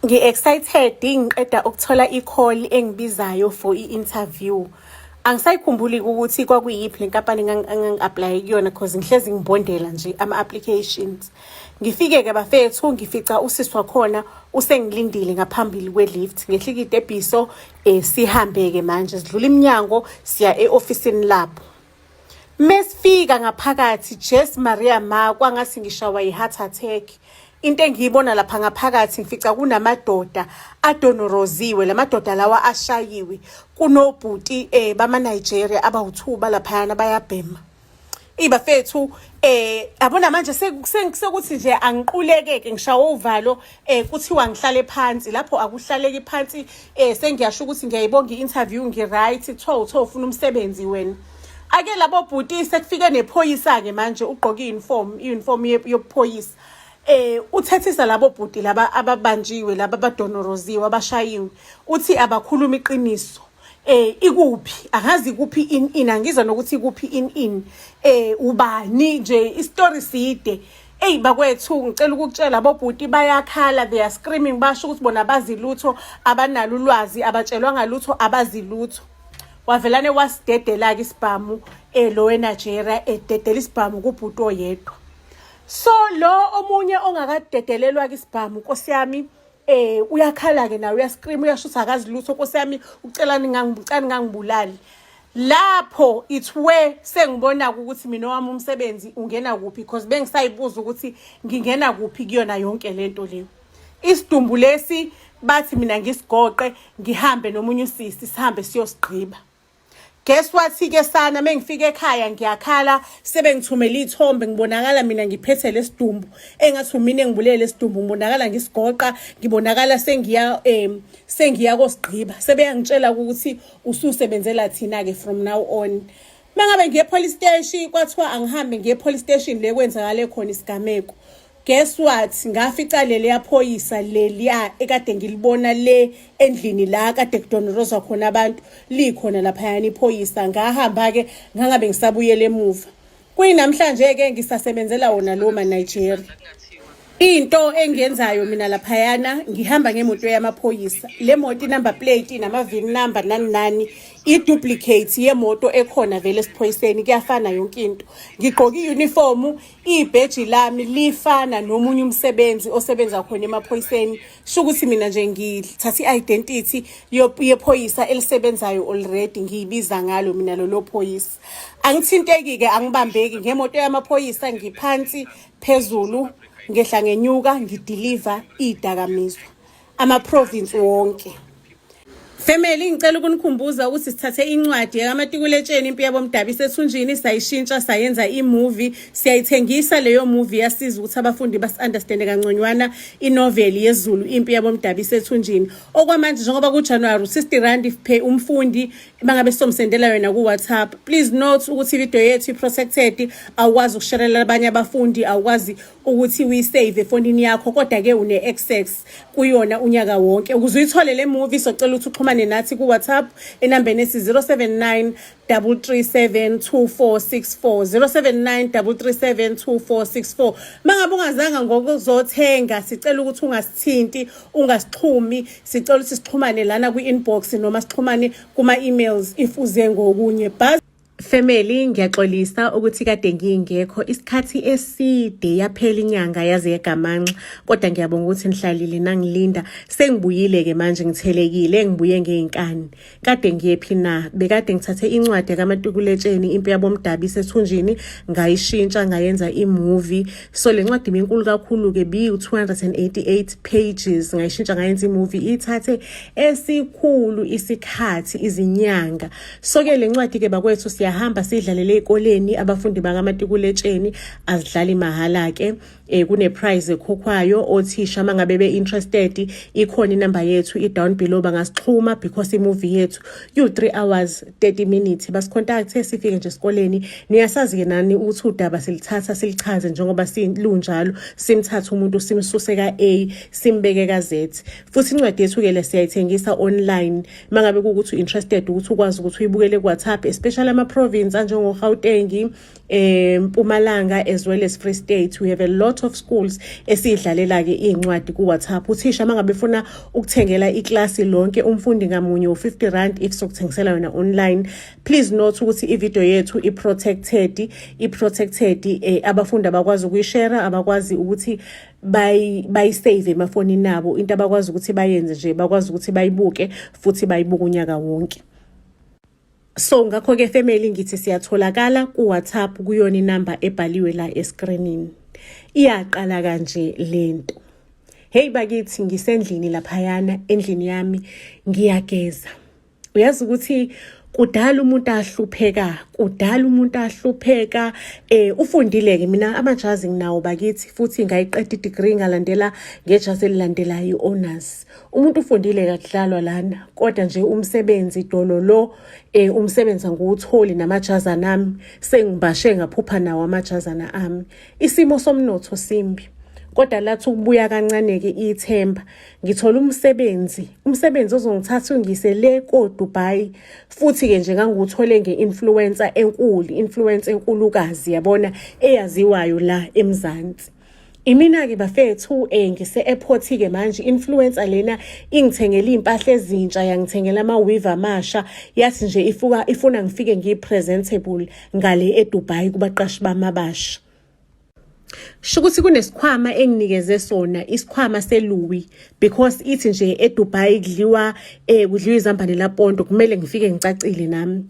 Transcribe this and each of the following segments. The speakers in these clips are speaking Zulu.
Ngi-excited ngiqeda ukuthola i-call engibizayo for i-interview. Angisayikhumbuli ukuthi kwakuyiphi le nkampani engangi-aplaye kuyona cause ngihlezi ngibondela nje ama-applications. Ngifike-ke bafethu ngifica usisi wakhona usengilindile ngaphambili kwe-lift. Ngehla ikitebhiso um eh, sihambe-ke manje sidlula iminyango siya e-ofisini labo. Mesifika ngaphakathi Jess Maria ma kwangasi ngishawa iheart attack. Into engiyibona lapha ngaphakathi ngifica kunamadoda adonoroziwe lamadoda lawa ashayiwe kunobhuti eh bama Nigeria abawuthuba laphayana bayabhema. ibafethu eh yabona manje sekuthi nje angiqulekeke ngishawa uvalo eh kuthiwa ngihlale phansi lapho akuhlaleki phansi eh sengiyasho ukuthi ngiyayibonga i-interview ngi-right kuthiwa uthiwa ufuna umsebenzi wena ake labo bhuti sekufike nephoyisa-ke manje ugqoke i-uniform i-uniform yobuphoyisa eh uthethisa labo bhuti laba ababanjiwe laba abadonoroziwe abashayiwe uthi abakhuluma iqiniso eh ikuphi angazi kuphi in in angizwa nokuthi kuphi in in eh ubani nje istory side Eyi bakwethu ngicela ukukutshela bobhuti bayakhala they are screaming basho ukuthi bona abazilutho abanalo ulwazi abatshelwa ngalutho abazilutho wavelane wasidedela-ke isibhamu um eh, lo wenigeria ededela isibhamu kubhuti oyedwa so lo omunye ongakadedelelwa-ke isibhamu nkosi yami eh uyakhala-ke nawe uyascream uyasho ukuthi akazi lutho nkosi yami ucelani ngangibulali lapho it's where sengibona ukuthi mina wami umsebenzi ungena kuphi because bengisayibuza ukuthi ngingena kuphi kuyona yonke lento leyo isidumbu lesi bathi mina ngisigoqe ngihambe nomunye usisi sihambe siyosigqiba guess what ke sana mengifika ekhaya ngiyakhala sebengithumela izithombe ngibonakala mina ngiphethe lesidumbu engathi mina engibulele lesidumbu ngibonakala ngisigoqa ngibonakala sengiya em sengiya kosigqiba sebeyangitshela ukuthi ususebenzela thina ke from now on mangabe ngiye police station kwathiwa angihambe ngiye police station le kwenzakale khona isigameko guess what ngafica leli yaphoyisa leliya ekade ngilibona le endlini la kade kudonoroza khona abantu likhona laphayana iphoyisa ngahamba ke ngangabe ngisabuyele emuva kuyinamhlanje-ke ngisasebenzela wona lowo manigeria into engiyenzayo mina laphayana ngihamba ngemoto yamaphoyisa le moto inumber plate inama-vin number nani nani i-duplicate yemoto ekhona vele esiphoyiseni kuyafana yonke into ngigqoke i-unifomu ibheji lami lifana nomunye umsebenzi osebenza khona emaphoyiseni sho ukuthi mina nje ngithatha i-identity yephoyisa elisebenzayo already ngiyibiza ngalo mina lolo phoyisa angithinteki-ke angibambeki ngemoto yamaphoyisa ngiphansi phezulu ngehla ngenyuka ngidiliva iy'dakamizwa amaprovinsi wonke Family ngicela ukunikhumbuza ukuthi sithathe incwadi yakamatikuletsheni impi yabomdabi sethunjini sayishintsha sayenza imovie siyayithengisa leyo movie yasiza ukuthi abafundi basi-understand kangconywana inoveli yezulu impi yabomdabi sethunjini okwamanje njengoba kujanuwari u-60 rand phe umfundi bangabe sizomsendela yona ku-whatsapp please note ukuthi ivideo yethu i-protected awukwazi ukusharelela abanye abafundi awukwazi ukuthi uyisave efonini yakho kodwa-ke une-access kuyona unyaka wonke ukuze uyithole le movie socela ukuthi uxhumane nathi ku-whatsapp enambeni ethi 079 337 2464 079 mangabe ungazanga ngokuzothenga sicela ukuthi ungasithinti ungasixhumi sicela ukuthi sixhumane lana kwi-inbox noma sixhumane kuma-emails if uze ngokunye bhaz Family ngiyaxolisa ukuthi kade ngingekho isikhathi eside yaphela inyanga yaze yegamanxa kodwa ngiyabonga ukuthi nihlalile nangilinda sengibuyile ke manje ngithelekile ngibuye ngeinkani kade ngiyephi na bekade ngithathe incwadi yakamatukuletsheni impi yabomdabi isethunjini ngayishintsha ngayenza imovie so le ncwadi binkulu kakhulu-ke biwu-288 pages ngayishintsha ngayenza imovie ithathe esikhulu isikhathi izinyanga so-ke le ncwadi-ke bakwethu siyahamba sidlalele ey'koleni abafundi bakamatikuletsheni azidlali mahhala-ke eh kuneprice ekhokhwayo othisha mangabe be interested ikhona inamba yethu i down below bangasixhuma because imovie yethu you 3 hours 30 minutes basicontact sifike nje esikoleni niyasazi ke nani ukuthi udaba silithatha silichaze njengoba silunjalo simthatha umuntu simsuse ka A simbeke ka Z futhi incwadi yethu ke lesiyayithengisa online mangabe ukuthi interested ukuthi ukwazi ukuthi uyibukele ku WhatsApp especially ama province anjengo Gauteng eMpumalanga um, as well as Free State we have a lot of schools esidlalela ke incwadi ku WhatsApp uthisha mangabe funa ukuthengela iclass lonke umfundi ngamunye u50 rand if sokuthengisela yona online please note ukuthi ivideo yethu i protected i protected eh, abafundi abakwazi ukuyishare abakwazi ukuthi bayisave emafonini nabo into abakwazi ukuthi bayenze nje bakwazi ukuthi bayibuke futhi bayibuka unyaka wonke so ngakho ke family ngithi siyatholakala ku WhatsApp kuyona inamba ebhaliwe la escreenini iyaqala kanje lento hey bakithi ngisendlini laphayana endlini yami ngiyageza uyazi ukuthi kudala umuntu ahlupheka kudala umuntu ahlupheka eh ufundile ke mina amajazi nginawo bakithi futhi ngayiqeda i degree ngalandela ngejazi elilandelayo honors umuntu ufundile kakudlalwa lana kodwa nje umsebenzi dolo lo eh umsebenza nguwutholi namajazana ami sengibashe ngaphupha nawo amajazana ami isimo somnotho simbi kodwa lathi ukubuya kancaneke ithemba ngithola umsebenzi umsebenzi ozongithatha ungise le koDubai futhi ke nje nganguthole ngeinfluencer enkulu influencer enkulukazi yabona eyaziwayo la eMzansi Imina-ke bafethu um eh, ngise-airport-ke manje influencer lena ingithengela iy'mpahla ezintsha yangithengela ama-weave amasha yathi nje ifuka ifuna ngifike ngiyi-presentable ngale edubai kubaqashi bami abasha sho ukuthi kunesikhwama enginikeze sona isikhwama seLouis because ithi nje eDubai kudliwa eh kudliwa izambane laPonto kumele ngifike ngicacile nami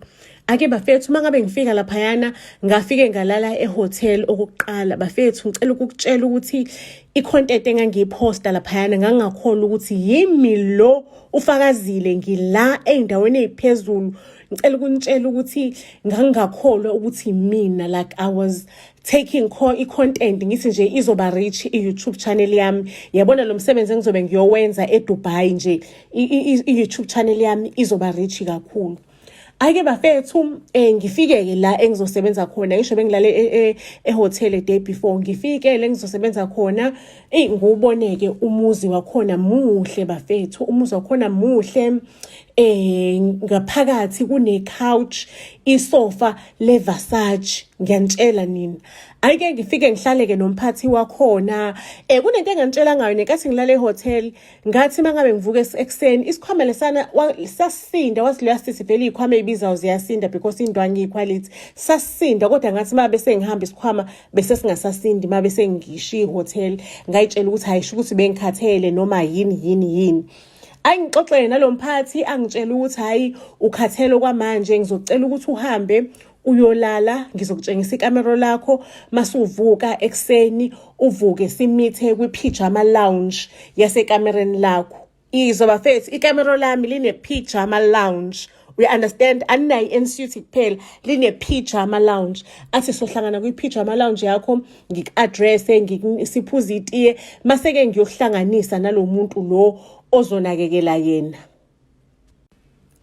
Ake bafethu uma ngabe ngifika laphayana ngafike ngalala ehotel okuqala bafethu ngicela ukukutshela ukuthi i-content engangiyiphosta laphayana ngangakhona ukuthi yimi lo ufakazile ngila ey'ndaweni ey'phezulu ngicela ukunitshela ukuthi ngangingakholwa ukuthi mina like i was taking i-content ngithi nje izoba rich i-youtube channel yami yabona lo msebenzi engizobe ngiyowenza edubai nje i-youtube channel yami izoba rich kakhulu ayike bafethu um ngifike-ke la engizosebenza khona ngisho bengilale e, e, ehotele day before ngifike le ngizosebenza khona eyi ngiwuboneke umuzi wakhona muhle bafethu umuzi wakhona muhle eh ngaphakathi kune couch isofa le Versace ngiyanitshela nini ayike ngifike ngihlaleke nomphathi wakhona eh kunento engantshela ngayo nenkathi ngilale ehotel ngathi uma ngabe ngivuka ekuseni isikhwama lesana sasinda wathi leya sisi vele iy'khwama ey'bizayo ziyasinda because indwangi iyikhwalithi sasinda kodwa ngathi uma bese ngihamba isikhwama bese singasasindi uma bese ngishiye ihhotela ngayitshela ukuthi hhayi sho ukuthi bengikhathele noma yini yini yini ayi ngixoxele nalo mphathi angitshela ukuthi hhayi ukhathele okwamanje ngizocela ukuthi uhambe uyolala ngizokutshengisa ikamero lakho masuvuka ekuseni uvuke simithe kwi-pyjama lounge yasekamereni lakho izwa bafethu ikamero lami line-pyjama lounge we understand aninayo i-ensuit kuphela line-pyjama lounge athi sohlangana kwi-pyjama lounge yakho ngiku-adresse siphuze itiye mase-ke ngiyohlanganisa nalo muntu lo ozonakekela yena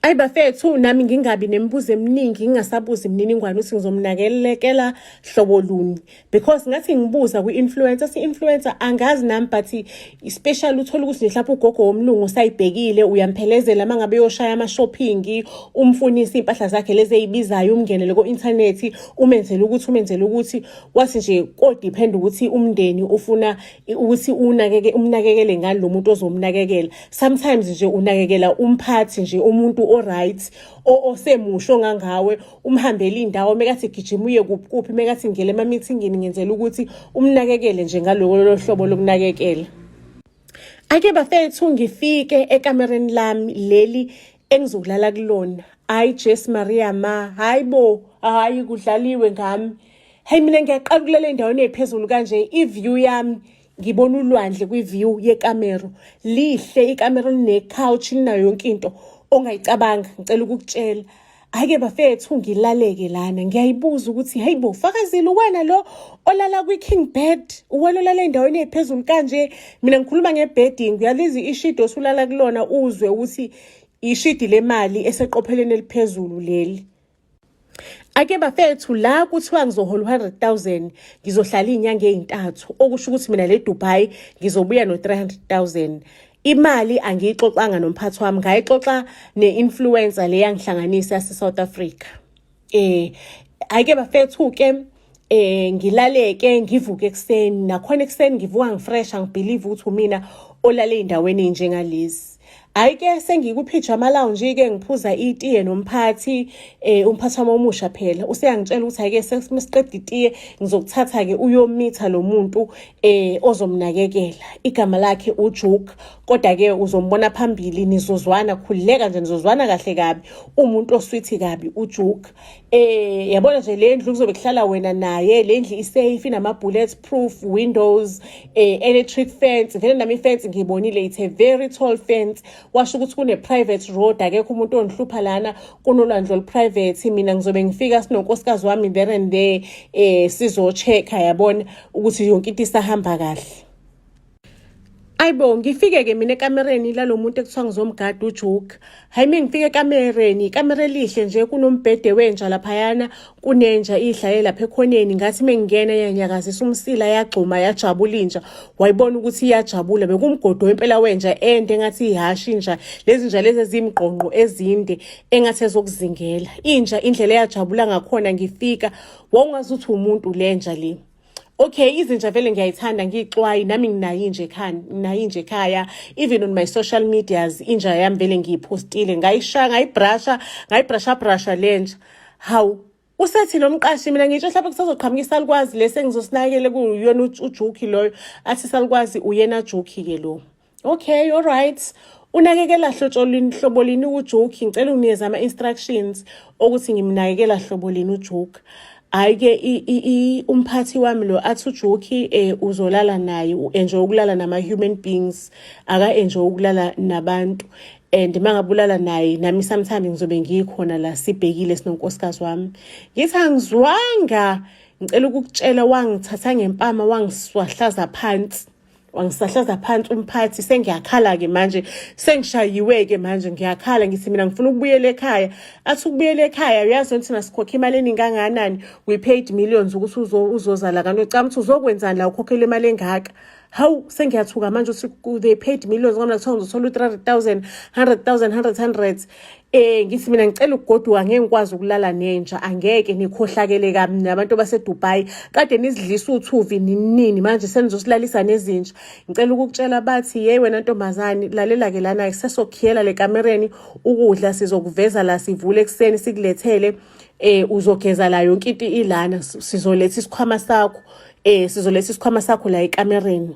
Ayi bafethu nami ngingabi nemibuzo eminingi ngingasabuzi imininingwane ukuthi ngizomnakelekela hlobo luni because ngathi ngibuza kwi-influencer si-influencer angazi nami but special uthole ukuthi mhlawumbe ugogo womlungu usayibhekile uyamphelezela uma ngabe uyoshaya ama-shopping umfunise iy'mpahla zakhe lezi eyibizayo umngenele ko-inthanethi umenzele ukuthi umenzele ukuthi wathi nje kodiphenda ukuthi umndeni ufuna ukuthi unakeke umnakekele ngani lo muntu ozomnakekela sometimes nje unakekela umphathi nje umuntu oright osemusho ngangawe umhambela indawo mekathi gijima uye kuphi kuphi mekathi ngele ema meetingini ngenzela ukuthi umnakekele nje ngaloko lohlobo lokunakekela ake bafethu ngifike ekamereni lami leli engizokulala kulona hayi jesu maria ma hayi bo hayi kudlaliwe ngami heyi mina ngiyaqala ukulala endaweni ephezulu kanje i-view yami ngibona ulwandle kwi-view yekamero lihle ikamero line-couch linayo yonke into ongayicabanga ngicela ukukutshela hhayi-ke bafethu ngilaleke lana ngiyayibuza ukuthi hhayi bo fakazile uwena lo olala kwi-king bed uwena olala endaweni ephezulu kanje mina ngikhuluma nge-bedding uyalizi ishidi osulala kulona uzwe ukuthi ishidi lemali eseqopheleni eliphezulu leli ake bafethu la kuthiwa ngizohola u-hundred thousand ngizohlala iy'nyanga ey'ntathu okusho ukuthi mina le dubai ngizobuya no-three hundred thousand imali angiyixoxanga nomphathi wami ngayixoxa ne-influencer le yangihlanganisa yase-south africa eh ayike bafethu ke eh ngilaleke ngivuke ekseni nakhona ekseni ngivuka ngifresh angibelieve ukuthi umina olale endaweni enjengalezi hayi ke sengikuphijama lounge ke ngiphuza itiye nomphathi eh umphathi wami omusha phela useyangitshela ukuthi hayi ke sesiqeda itiye ngizokuthatha ke uyomitha lo muntu eh ozomnakekela igama lakhe uJuke kodwa ke uzombona phambili nizozwana khuleka nje nizozwana kahle kabi umuntu oswithi kabi ujuk eh yabona nje le ndlu kuzobe kuhlala wena naye le ndlu isafe inama bullet proof windows eh electric fence vele nami fence ngibonile it's a very tall fence washo ukuthi kune private road akekho umuntu ongihlupha lana kunolwandle olu private mina ngizobe ngifika sinonkosikazi wami there and there eh sizo check yabona ukuthi yonke into isahamba kahle Ayibo ngifike ke mina ekamereni lalomuntu ekuthiwa ngizomgada uJoke. Hayi mina ngifike ekamereni, ikamera elihle nje kunombhede wenja laphayana, kunenja idlaye lapha ekhoneni ngathi mengingena yanyakazisa umsila yagxuma yajabula inja. Wayibona ukuthi iyajabula bekumgodo wempela wenja ende engathi ihashi inja. Lezi nja lezi ezimgqongqo ezinde engathi ezokuzingela. Inja indlela eyajabula ngakhona ngifika wawungazuthi umuntu lenja le. okay izinja vele ngiyayithanda ngiyixwayi nami nginayo inje ekhaya nginayo inje ekhaya even on my social medias inja yami vele ngiyiphostile ngayishaya ngayibrasha ngayibrasha brasha lenja hawu usethi lo mqashi mina ngisho mhlawumbe kusazoqhamuka isalukwazi lesi engizosinakekele kuyona ujukhi loyo athi isalukwazi uyena jukhi-ke lo okay all right unakekela hlotsholini hlobo lini ujoke ngicela unikeze ama-instructions okuthi ngimnakekela hlobo lini ujoke hhayi-ke umphathi wami lo athi ujoki um eh, uzolala naye u-enjoy ukulala nama-human beings aka-enjoy ukulala nabantu and uma ngabe ulala naye nami sometimes ngizobe ngikhona la sibhekile sinonkosikazi wami ngithi angizwanga ngicela ukukutshela wangithatha ngempama wangiswahlaza phansi wangisahlaza phansi umphathi sengiyakhala-ke manje sengishayiwe-ke manje ngiyakhala ngithi mina ngifuna ukubuyela ekhaya athi ukubuyela ekhaya uyazi ukuthi thina sikhokhe imali eningi kangakanani we paid millions ukuthi uzoza la kanti ucama ukuthi uzokwenzani la ukhokhela imali engaka hawu sengiyathuka manje ukuthi they paid millions kwamna kuthiwa ngizothola u-three hundred thousand hundred thousand hundred hundred Eh ngithi mina ngicela ukugoduka ngeke ngikwazi ukulala nenja angeke nikhohlakele kami nabantu baseDubai kade nizidlisa uthuvi ninini manje senizosilalisa nezinja ngicela ukukutshela bathi hey wena ntombazane lalela ke lana sesokhiyela le kamereni ukudla sizokuveza la sivule ekseni sikulethele eh uzogeza la yonke into ilana sizoletha isikhwama sakho eh sizoletha isikhwama sakho la ekamereni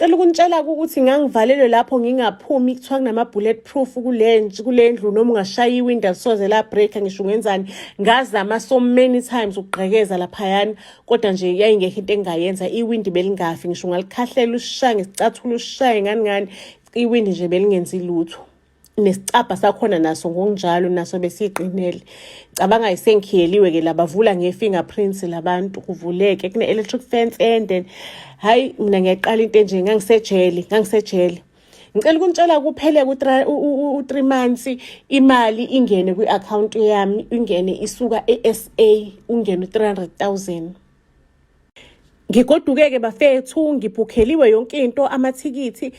cela ukunitshela ukuthi ngangivalelwe lapho ngingaphumi kuthiwa kunama-bullet proof kule ndlu noma ungashaya iwindi alisoze la-break-a ngisho ungenzani ngazama so many times ukugqekeza laphayana kodwa nje yayingekho into engingayenza iwindi belingafi ngisho ungalikhahlela usishaye ngesicathulo usishaye ngani ngani iwindi nje belingenzi lutho nesicabha sakhona naso ngokunjalo naso besiqinele cabanga isengikhiyeliwe ke labavula nge-fingerprints labantu kuvuleke kune-electric fence ende hhayi mina ngiyaqala into enje ngangisejele ngangisejele ngicela ukunitshela kuphele u-three months imali ingene kwi-akhawunti yami ingene isuka e-s a ungene u-three hundred thousand ngigoduke-ke bafethu ngibhukheliwe yonke into amathikithi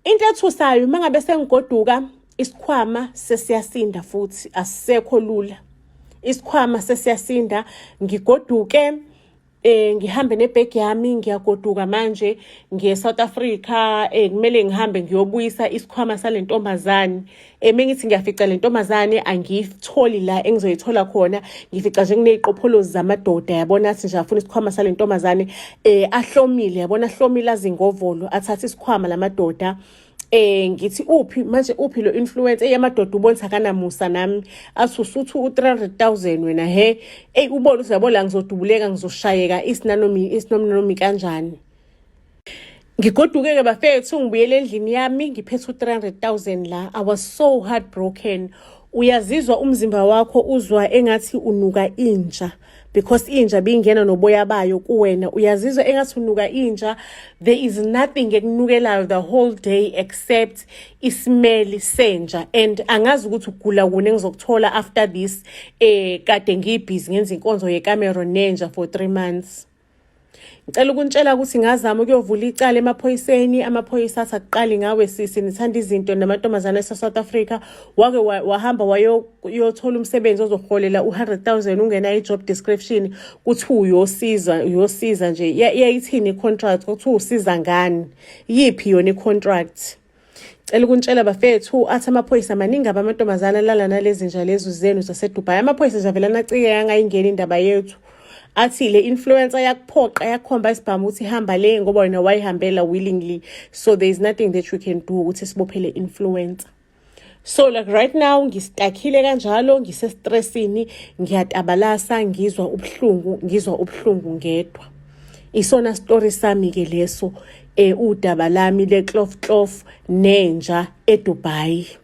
Into ethusayo uma ngabe sengigoduka isikhwama sesiyasinda futhi asisekho lula. Isikhwama sesiyasinda ngigoduke eh ngihambe nebag yami ngiyagoduka manje ngiye South Africa eh kumele ngihambe ngiyobuyisa isikhwama salentombazane eme ngithi ngiyafica le ntombazane angiyitholi la engizoyithola khona ngifica nje kuney'qopholozi zamadoda yabona athi nje afuna isikhwama sale ntombazane um ahlomile yabona ahlomile azingovolo athathe isikhwama la madoda eh ngithi uphi manje uphi lo influencer eyamadoda ubonisa kanamusa nami asusuthu u300000 wena he ey ubona uthi yabo la ngizodubuleka ngizoshayeka isinanomi isinomnomi kanjani ngigoduke-ke bafethu ngibuyele endlini yami ngiphethe u-300 000 la i was so heartbroken uyazizwa umzimba wakho uzwa engathi unuka inja because inja bingena noboya bayo kuwena uyazizwa engathi unuka inja there is nothing ekunukelayo the whole day except isimeli senja and angazi ukuthi ugula kune ngizokuthola after this eh kade ngiyibhizi ngenza inkonzo yecameron nenja for 3 months Ngicela ukuntshela ukuthi ngazama ukuyovula icala emaphoyiseni amaphoyisa athi akuqali ngawe sisi nithanda izinto namantombazane ase-south africa wake wahamba wayothola umsebenzi ozoholela u-100,000 ungena i-job description kuthi uyosiza uyosiza nje yayithini i-contract kuthi usiza ngani yiphi yona i-contract Cela ukuntshela bafethu athi amaphoyisa maningi abamantombazana alala nalezi nja lezu zenu zaseDubai. Amaphoyisa nje avela nacike yangayingeni indaba yethu. Athi le influencer yakuphoqa yakhomba isibhamu ukuthi hamba le ngoba wena wayihambela willingly. So there is nothing that we can do ukuthi sibophele influencer. So like right now ngistakile kanjalo ngise stressini ngiyatabalasa ngizwa ubuhlungu ngizwa ubuhlungu ngedwa. Isona story sami ke leso e udaba lami le cloth cloth nenja eDubai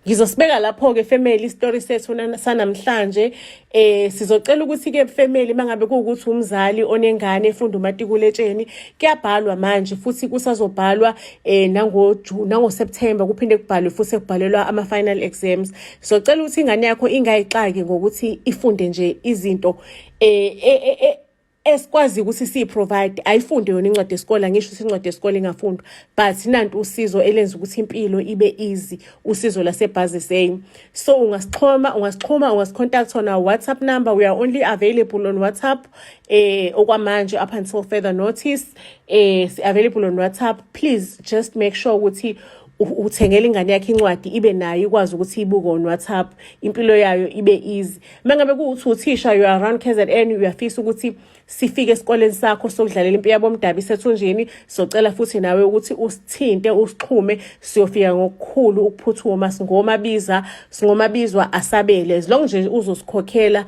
ngizosibeka lapho ke family istory sethu sanamhlanje eh sizocela ukuthi ke family mangabe kuwukuthi umzali onengane efunda umatikuletsheni kuyabhalwa manje futhi kusazobhalwa eh nango June nango September kuphinde kubhalwe futhi ekubhalelwa ama final exams sizocela ukuthi ingane yakho ingayixaki ngokuthi ifunde nje izinto eh, eh, eh, eh esikwazi ukuthi siyi-provide ayifunde yona incwadi yesikole angisho ukuthi incwadi yesikole ingafundwa but nanti usizo elenza ukuthi impilo ibe easy usizo lasebhazi same so ungasixhoma ungasixhoma ungasicontact on our whatsapp number we are only available on whatsapp eh okwamanje up until further notice eh si-available on whatsapp please just make sure ukuthi uthengela ingane yakhe incwadi ibe nayo ikwazi ukuthi ibuke on whatsapp impilo yayo ibe easy uma ngabe kuwuthi uthisha you are around k z n uyafisa ukuthi sifike esikoleni sakho sokudlalela impi yabomdabi isethunjini socela futhi nawe ukuthi usithinte usixhume siyofika ngokukhulu ukuphuthuma singomabiza singomabizwa asabele as long nje uzosikhokhela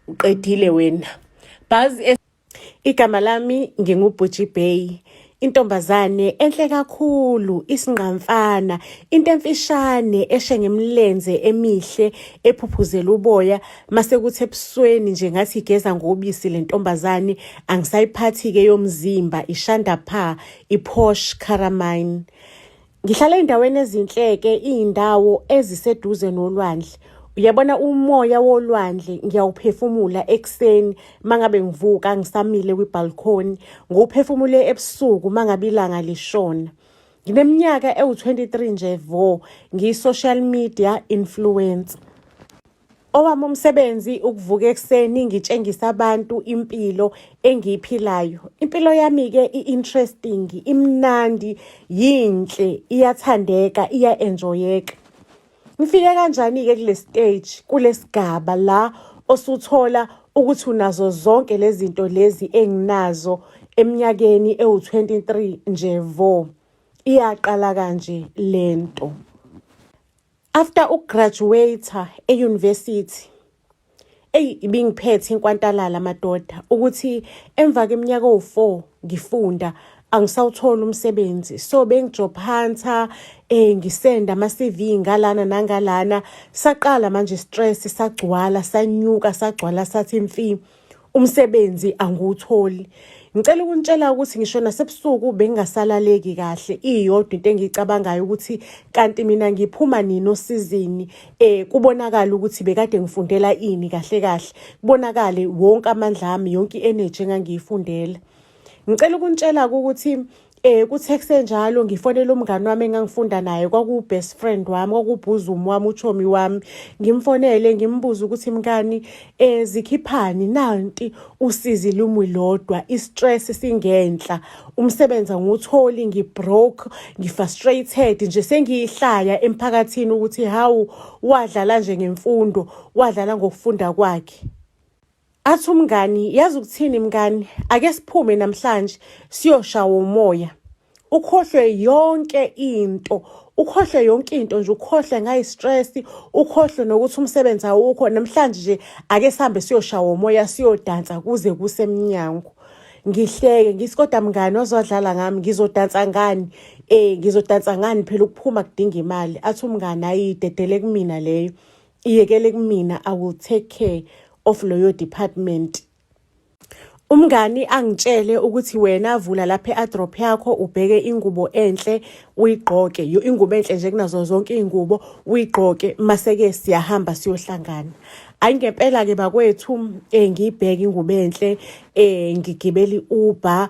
uqedile wena bhazi Igama lami nginguBhuji Bay. Intombazane enhle kakhulu, isingqamfana, into emfishane eshe ngemlenze emihle ephuphuzela uboya mase kuthi ebusweni nje ngathi igeza ngobisi le ntombazane angisayiphathi-ke yomzimba ishanda pha iphosh caramine Ngihlala endaweni ezinhleke izindawo eziseduze nolwandle. Uyabona umoya wolwandle ngiyawuphefumula ekuseni mangabe ngivuka ngisamile kwibalcony, ngiwuphefumule ebusuku mangabe ilanga lishona. Ngineminyaka ewu-23 nje vo, ngiyi-social media influencer. Owami umsebenzi ukuvuka ekuseni ngitshengisa abantu impilo engiyiphilayo. Impilo yami-ke i-interesting, imnandi, yinhle, iyathandeka, iya-enjoyeka. Ngifike kanjani-ke kule stage, kule sigaba la osuthola ukuthi unazo zonke lezi zinto lezi enginazo eminyakeni ewu-23 nje vo. Iyaqala kanje le nto. After ukugraduate euniversity eyi ibingiphethe inkwantalala madoda ukuthi emva keminyaka owu-4 ngifunda angisawutholi umsebenzi so bengijophantha eh ngisenda ama CV ngalana nangalana saqala manje stress sagcwala sanyuka sagcwala sathi imfi umsebenzi angiwutholi ngicela ukunitshela ukuthi ngisho nasebusuku bengingasalaleki kahle iyodwa into engiyicabangayo ukuthi kanti mina ngiphuma nini osizini eh kubonakala ukuthi bekade ngifundela ini kahle kahle kubonakale wonke amandla ami yonke energy engangiyifundela ngicela ukuntshela ukuthi eh kuthexe njalo ngifonela umngani wami engangifunda naye kwaku best friend wami kwakubhuzumi wami uchomi wami ngimfonele ngimbuza ukuthi mkani eh zikhiphani nanti usizi lumwi lodwa i stress singenhla umsebenza ngutholi ngi broke ngi frustrated nje sengiyihlaya emphakathini ukuthi hawu wadlala nje ngemfundo wadlala ngokufunda kwakhe Athi umngani, yazi ukuthini mngani, ake siphume namhlanje siyoshawa umoya. Ukhohlwe yonke into, ukhohlwe yonke into nje, ukhohlwe ngayi-stress, ukhohlwe nokuthi umsebenzi awukho. Namhlanje nje ake sihambe siyoshawa umoya, siyodansa kuze kusemnyango. Ngihleke ngithi kodwa mngani wazwadlala ngami, ngizodansa ngani? Eh, ngizodansa ngani phela ukuphuma kudinga imali. Athi umngani, ayi dedele kumina leyo. iyekele kumina i will take care of loyo department Umngani angitshele ukuthi wena vula lapha e-adrop yakho ubheke ingubo enhle uyigqoke yo ingubo enhle nje kunazo zonke iy'ngubo uyigqoke mase-ke siyahamba siyohlangana ayi ngempela-ke bakwethu um ngiyibheke ingubo enhle um ngigibela i-uber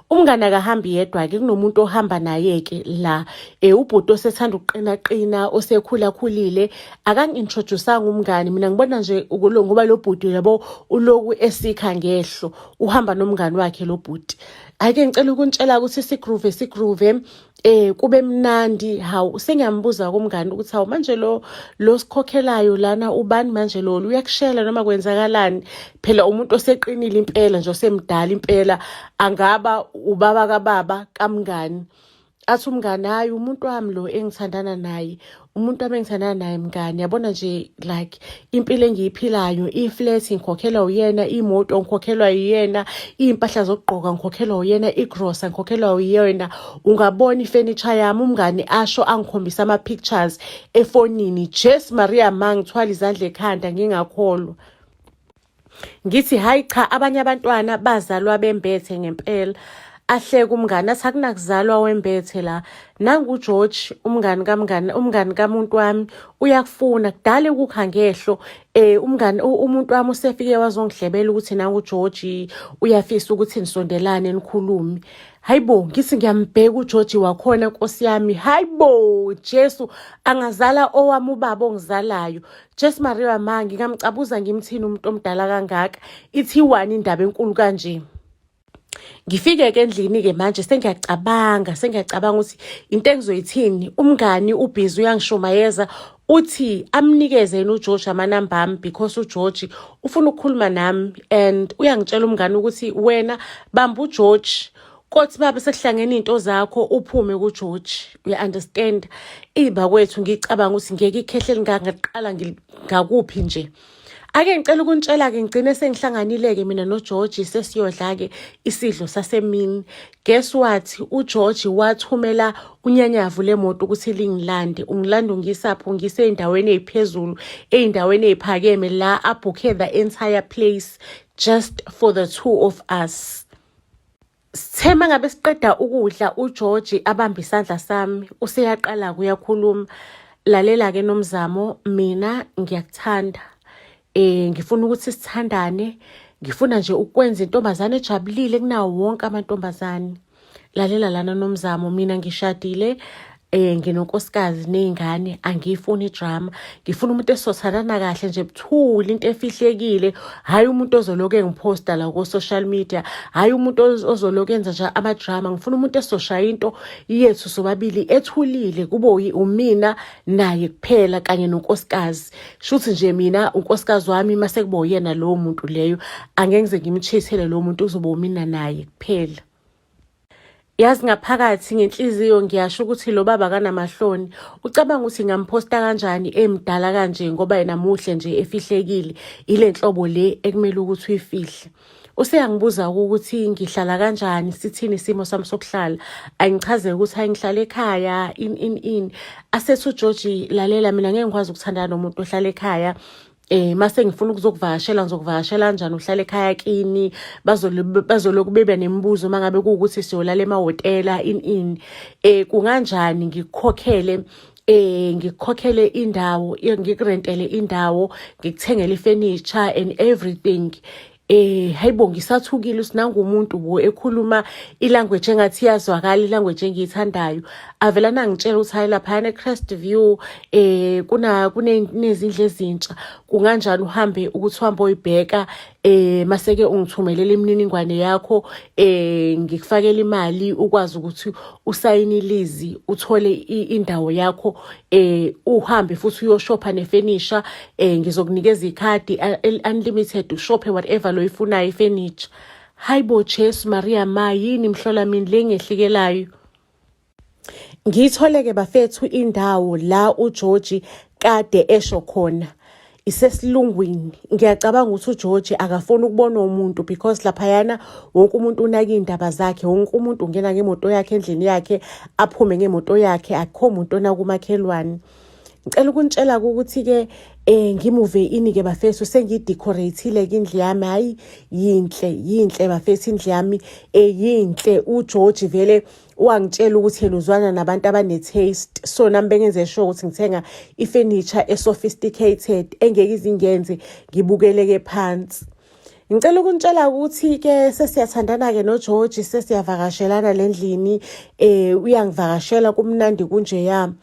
umngane akahambi yedwa-ke kunomuntu ohamba naye-ke la um ubhuti osethanda ukuqinaqina osekhulakhulile akangi-introduce-anga umngane mina ngibona nje ngoba lo bhuti yabo uloku esikha ngehlo uhamba nomngane wakhe lo bhuti ake ngicela ukuntshela ukuthi sigroove sigroove eh kube mnandi hawu sengiyambuza kumngani ukuthi hawu manje lo lo sikhokhelayo lana ubani manje lo uyakushela noma kwenzakalani phela umuntu oseqinile impela nje osemdala impela angaba ubaba kababa kamngani athi umngani hayi umuntu wami lo engithandana naye umuntu abengithandana naye mngani yabona nje like impilo engiyiphilayo i-flat ngikhokhelwa uyena imoto ngikhokhelwa uyena iy'mpahla zokugqoka ngikhokhelwa uyena igrosa ngikhokhelwa uyena ungabona ifenitsha yami umngani asho angikhombisa ama-pictures efonini jes maria ma ngithwala izandla ekhanda ngingakholwa ngithi hayi cha abanye abantwana bazalwa bembethe ngempela ahleke umngane athi akunakuzalwa wembethe la nangugeorge umngani kamngani umngani kamuntu wami uyakufuna kudala ukukha ngehlo eh umngani umuntu wami usefike wazongihlebela ukuthi nangugeorge uyafisa ukuthi nisondelane nikhulume hayibo ngithi ngiyambheka ugeorge wakhona nkosi yami hayibo jesu angazala owami ubaba ongizalayo Jess Maria ma ngingamcabuza ngimthini umuntu omdala kangaka ithi wani indaba enkulu kanje ngifike ke endlini ke manje sengiyacabanga sengiyacabanga ukuthi into engizoyithini umngani ubhizi uyangishumayeza uthi amnikeze yena uGeorge amanamba ami because uGeorge ufuna ukukhuluma nami and uyangitshela umngani ukuthi wena bamba uGeorge kothi baba sekuhlangene into zakho uphume ku George we understand iba kwethu ngicabanga ukuthi ngeke ikhehle lingaqala ngakuphi nje ake ngicela ukuntshela ke ngigcine sengihlanganileke mina no George sesiyodla ke isidlo sasemini guess what u George wathumela unyanyavu lemoto ukuthi lingilande ungilanda ungisapho ngise endaweni eziphezulu eindaweni eziphakeme la abhukhe the entire place just for the two of us Sithe mangabe siqeda ukudla uGeorge abambe isandla sami useyaqala kuyakhuluma lalela ke nomzamo mina ngiyakuthanda eh ngifuna ukuthi sithandane ngifuna nje ukwenza intombazane ejabulile kunawo wonke amantombazane lalela lana nomzamo mina ngishadile eh nginonkosikazi nezingane angiyifuni drama ngifuna umuntu esothanana kahle nje buthuli into efihlekile hayi umuntu ozoloke engiposta la ku social media hayi umuntu ozoloke enza nje ama drama ngifuna umuntu esoshaya into yethu sobabili ethulile kube umina naye kuphela kanye nonkosikazi shuthi nje mina unkosikazi wami mase kuba uyena lowo muntu leyo angeke ngize ngimchithele lowo muntu uzoba umina naye kuphela Yazi ngaphakathi ngenhliziyo ngiyasho ukuthi lo baba kanamahloni ucabanga ukuthi ngamphosta kanjani emdala kanje ngoba yena muhle nje efihlekile ile nhlobo le ekumele ukuthi uyifihle useyangibuza ukuthi ngihlala kanjani sithini isimo sami sokuhlala angichaze ukuthi angihlala ekhaya in in in asethi ugeorgi lalela mina ngeke ngikwazi ukuthandana nomuntu ohlala ekhaya eh mase ngifuna ukuzokuvakashela ngizokuvakashela kanjani uhlale ekhaya kini bazoloku bebe nemibuzo uma ngabe kuwukuthi siyolala emahhotela in in eh kunganjani ngikukhokhele eh ngikukhokhele indawo ngikurentele indawo ngikuthengele ifurniture and everything eh hayibo ngisathukile usinanga umuntu bo ekhuluma ilanguage engathi iyazwakala ilanguage engiyithandayo avela nangitshela ukuthi hayi lapha ne Crest View eh kuna kunezindle ezintsha kunganjani uhambe ukuthi uhambe oyibheka eh maseke ungithumelela imininingwane yakho eh ngikufakela imali ukwazi ukuthi usayine ilizi uthole indawo yakho eh uhambe futhi uyoshopha nefurniture eh ngizokunikeza ikhadi unlimited ushophe whatever loyifunayo ifurniture hayibo Jesu Maria ma yini mhlola mina lengehlikelayo ngitholeke bafethu indawo la uGeorge kade esho khona isesilungwini ngiyacabanga ukuthi ugeorge akafuni ukubona umuntu because laphayana wonke umuntu unaka iy'ndaba zakhe wonke umuntu ungena ngemoto yakhe endlini yakhe aphume ngemoto yakhe akukho muntu onakumakhelwane ngicela ukunitshela ukuthi-ke um ngimuve ini-ke bafethu sengiyidecorate-ile-ke indlu yami hhayi yinhle yinhle bafethu indlu yami um yinhle ugeorge vele wangitshela ukuthi yena uzwana nabantu abane-taste so nami bengenze sure ukuthi ngithenga ifurniture e-sophisticated engeke izingenze ngibukeleke phansi ngicela ukunitshela ukuthi-ke sesiyathandana-ke nogeorge sesiyavakashelana le ndlini um uyangivakashela kumnandi kunjeya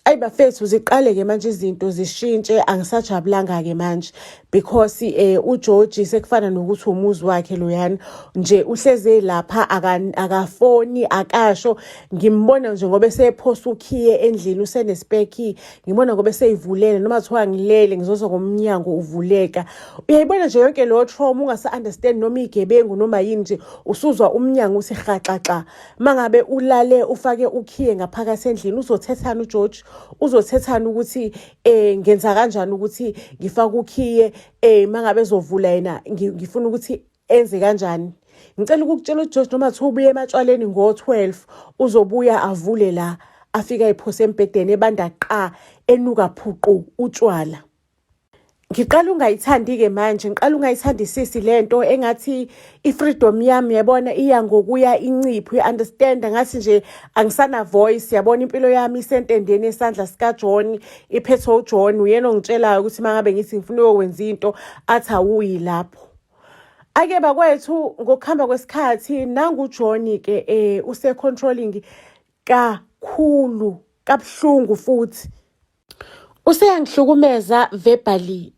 ayi bafethu ziqale-ke manje izinto zishintshe angisajabulanga-ke manje because eh uGeorge sekufana nokuthi umuzi wakhe loyana nje uhleze lapha akafoni akasho ngimbona nje ngoba esephosa ukhiye endlini usenespeki ngibona ngoba eseyivulele noma kuthiwa ngilele ngizozwa ngomnyango uvuleka uyayibona nje yonke lo trauma ungasa understand noma igebengu noma yini nje usuzwa umnyango uthi rhaxaxa mangabe ulale ufake ukhiye ngaphakathi endlini uzothethana uGeorge uzothethana ukuthi eh ngenza kanjani ukuthi ngifake ukhiye eh mangabe ezovula yena ngifuna ukuthi enze kanjani ngicela ukukutshela uGeorge noma kuthiwa ubuye ematshwaleni ngo-12 uzobuya avule la afika ephose embhedeni ebanda qa enuka phuqu utshwala ngiqala ungayithandi-ke manje ngiqala ungayithandi sisi le nto engathi i-freedom yami yabona iya ngokuya incipho i-understanda ngathi nje angisana-voice yabona impilo yami isentendeni esandla sikajohn iphethwe ujohn uyena ongitshelayo ukuthi uma ngabe ngithi ngifuna uyokwenza into athi awuyi lapho ake bakwethu ngokuhamba kwesikhathi nangujohn-ke um eh, use-controlling kakhulu kabuhlungu futhi useyangihlukumeza verbally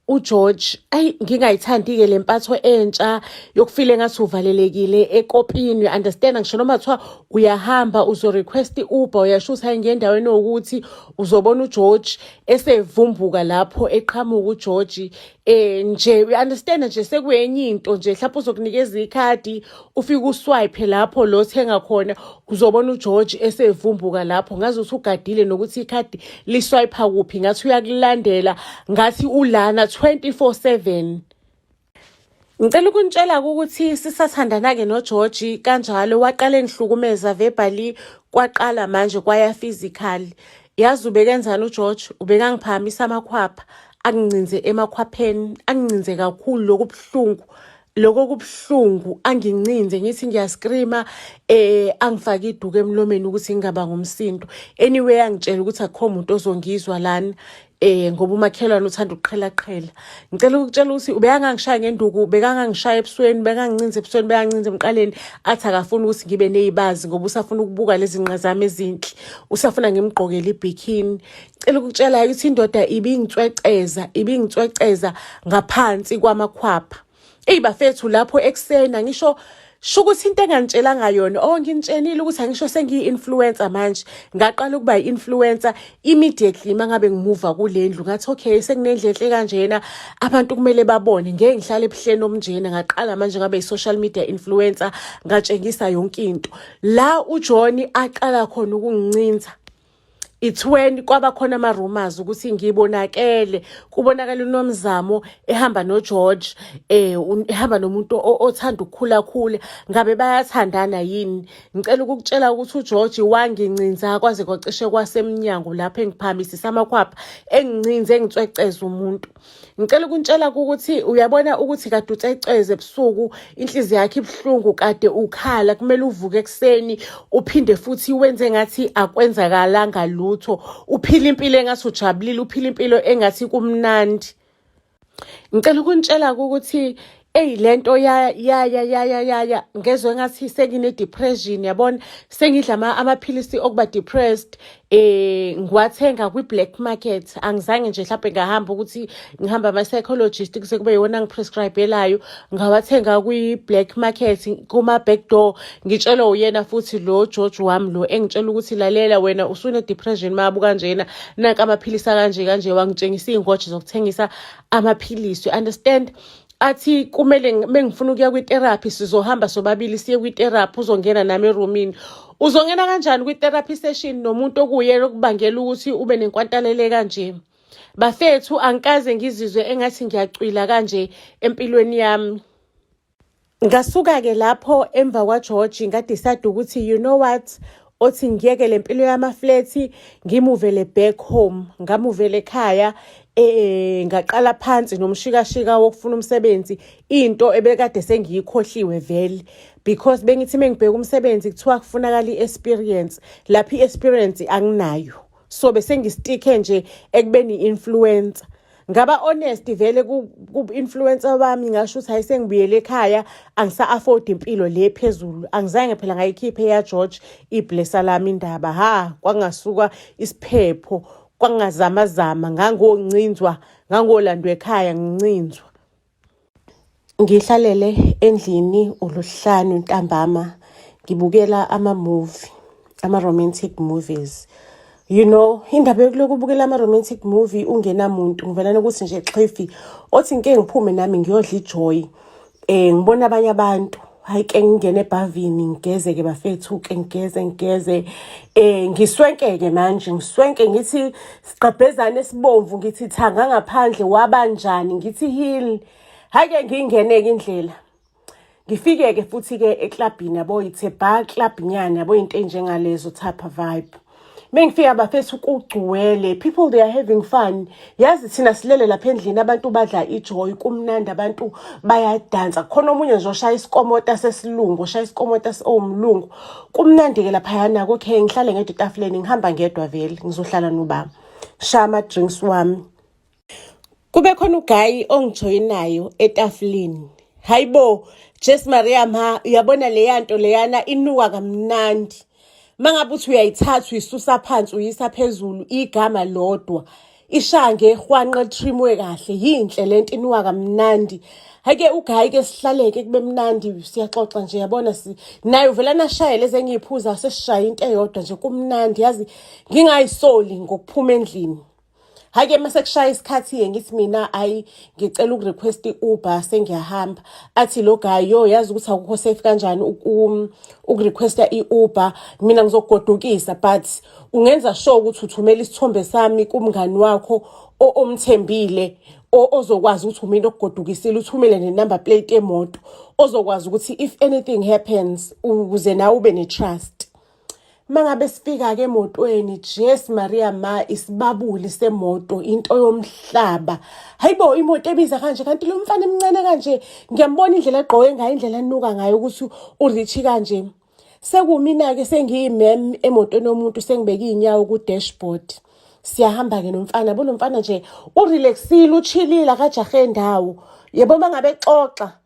uGeorge ayi ngingayithandi-ke le mpatho entsha yokufile ngathi uvalelekile ekopini understand ngisho noma kuthiwa uyahamba uzorequest i-uber uyasho ukuthi hayi ngendaweni owukuthi uzobona ugeorge esevumbuka lapho eqhamuka ugeorge eh nje we understand nje sekuyenye into nje mhlawumbe uzokunikeza ikhadi ufike uswipe lapho lo thenga khona uzobona uGeorge esevumbuka lapho ngaze usugadile nokuthi ikhadi liswipe kuphi ngathi uyakulandela ngathi ulana 24/7 Ngicela ukunitshela ukuthi sisathandana-ke noGeorge kanjalo waqala engihlukumeza verbally kwaqala manje kwaya physical. Yazi ubekenzani uGeorge? Ubekangiphakamisa amakhwapha, angincinze emakhwapheni, angincinze kakhulu lokhu buhlungu lokho kubuhlungu angincinze ngithi ngiyascreama eh angifake iduku emlomeni ukuthi ngingaba ngumsindo anyway angitshela ukuthi akukho muntu ozongizwa lana eh ngoba umakhelwane uthanda ukuqhelaqhela ngicela ukutshela ukuthi ubekangangishaya ngenduku bekangangishaya ebusweni bekangincinza ebusweni bekangincinza emqaleni athi akafuni ukuthi ngibe neyibazi ngoba usafuna ukubuka lezi nqa zami ezinhle usafuna ngimgqokele ibikini ngicela ukutshela ukuthi indoda ibingitsweceza ibingitsweceza ngaphansi kwamakhwapha Eyi bafethu lapho ekuseni angisho sho ukuthi into engangitshelanga yona o oh, nginitshenile ukuthi angisho sengiyi-influencer manje ngaqala ukuba yi-influencer immediately uma ngabe ngimuva kule ndlu ngathi okay sekunendlu enhle kanjena abantu kumele babone ngeke ngihlale ebuhleni obunjena ngaqala manje ngabe yi-social media influencer ngatshengisa yonke into la ujohn aqala khona ukungincinza it's when kwaba khona ama rumors ukuthi ngibonakele kubonakala unomzamo ehamba no George eh ehamba nomuntu othanda ukukhula khule ngabe bayathandana yini ngicela ukukutshela ukuthi uGeorge wangincinza kwaze kwacishe kwasemnyango lapho engiphamisisa amakhwapha engincinze engitsweceza umuntu ngicela ukuntshela ukuthi uyabona ukuthi kade uceceze ebusuku inhliziyo yakhe ibuhlungu kade ukhala kumele uvuke ekuseni uphinde futhi wenze ngathi akwenzakalanga lutho uphila impilo engathi ujabulile uphila impilo engathi kumnandi ngicela ukuntshela ukuthi eyi le nto ya ya ya ya ya ya ya ngezwe engathi sengine-depression yabona sengidla amaphilisi okuba depressed eh ngiwathenga kwi-black market angizange nje mhlawumbe ngahamba ukuthi ngihamba ama-psychologist kuse kube yiwona ngiprescribelayo ngawathenga kwi-black market kuma-back door ngitshelwe uyena futhi lo george wami lo engitshela ukuthi lalela wena usune-depression mabu kanjena nanka amaphilisi akanje kanje wangitshengisa iy'ngoje zokuthengisa amaphilisi understand athi kumele mengifuna ukuya kwitherapy sizohamba sobabili siye kwitherapy uzongena nami eroomini uzongena kanjani kwitherapy session nomuntu okuyena okubangela ukuthi ube nenkwantalele kanje bafethu angikaze ngizizwe engathi ngiyacwila kanje empilweni yami Ngasuka-ke lapho emva kwaGeorge ngadecide ukuthi you know what othi ngiyeke le mpilo yamaflethi ngimuvele back home ngamuvele ekhaya eh ngaqala phansi nomshikashika wokufuna umsebenzi into ebekade sengiyikhohliwe vele because bengithi mengibheka umsebenzi kuthiwa kufunakala i-experience lapho i-experience anginayo so bese ngistikhe nje ekubeni i-influencer ngaba honest vele ku-influencer bami ngasho ukuthi hayi sengibuyele ekhaya angisa-afford impilo le phezulu angizange phela ngayikhiphe eyageorge iblesa lami indaba ha kwangasuka isiphepho kwangazamazama ngangoncinzwa ngangolandwa ekhaya ngincinzwa Ngihlalele endlini uLuhlanu ntambama ngibukela ama-movie, ama-romantic movies. You know, indaba yokuloku ubukela ama-romantic movie ungenamuntu ngivela nokuthi nje xhifi othi ngike ngiphume nami ngiyodla ijoyi. Um ngibona abanye abantu hayi ke ngingene ebhavini ngigeze ke bafethu ke ngigeze ngigeze eh ngiswenkeke manje ngiswenke ngithi siqabhezane sibomvu ngithi thanga ngaphandle wabanjani ngithi heal hayi ke ngingene ke indlela ngifike ke futhi ke eklabhini yabo ithe bar club nyana yabo into enjengalezo type vibe mengifika bafethu kugcwele people they are having fun yazi thina silele lapha endlini abantu badla ijoy kumnandi abantu bayadansa khona omunye nje oshaya isikomota sesilungu oshaya isikomota owumlungu kumnandi-ke laphayana kokhe ngihlale ngedwa etafuleni ngihamba ngedwa vele ngizohlala nobaba shaya ama-drinks wami kube khona ugayi ongijoyinayo etafuleni hayi bo jes maria ma uyabona leya nto leyana inuka kamnandi uma ngabe uthi uyayithatha uyisusa phansi uyisa phezulu igama lodwa ishange ehwanqa litrimwe kahle yinhle le nto inuka kamnandi hake ugayi ke sihlaleke kube mnandi siyaxoxa nje yabona si naye uvela nashayele ezengiyiphuza sesishaye into eyodwa nje kumnandi yazi ngingayisoli ngokuphuma endlini hhayi ke uma sekushaya isikhathi-ke ngithi mina ayi ngicela ukurequest i-uber sengiyahamba athi lo guy yo yazi ukuthi akukho safe kanjani ukurequesta i-uber mina ngizokugodukisa but ungenza sure ukuthi uthumela isithombe sami kumngani wakho omthembile ozokwazi ukuthi umina okugodukisile uthumele nenumber plate yemoto ozokwazi ukuthi if anything happens ukuze nawe ube ne-trust mangabe sifika ke emotweni Jesu Maria ma isibabuli semoto into yomhlaba hayibo imoto ebiza kanje kanti lo mfana emncane kanje ngiyambona indlela egqoke ngayo indlela anuka ngayo ukuthi urich kanje sekumina ke sengiyimem emotweni yomuntu sengibeke inyawo ku dashboard siyahamba ke nomfana bo nomfana nje urelaxile uchilile akajahe ndawo yebo mangabe xoxa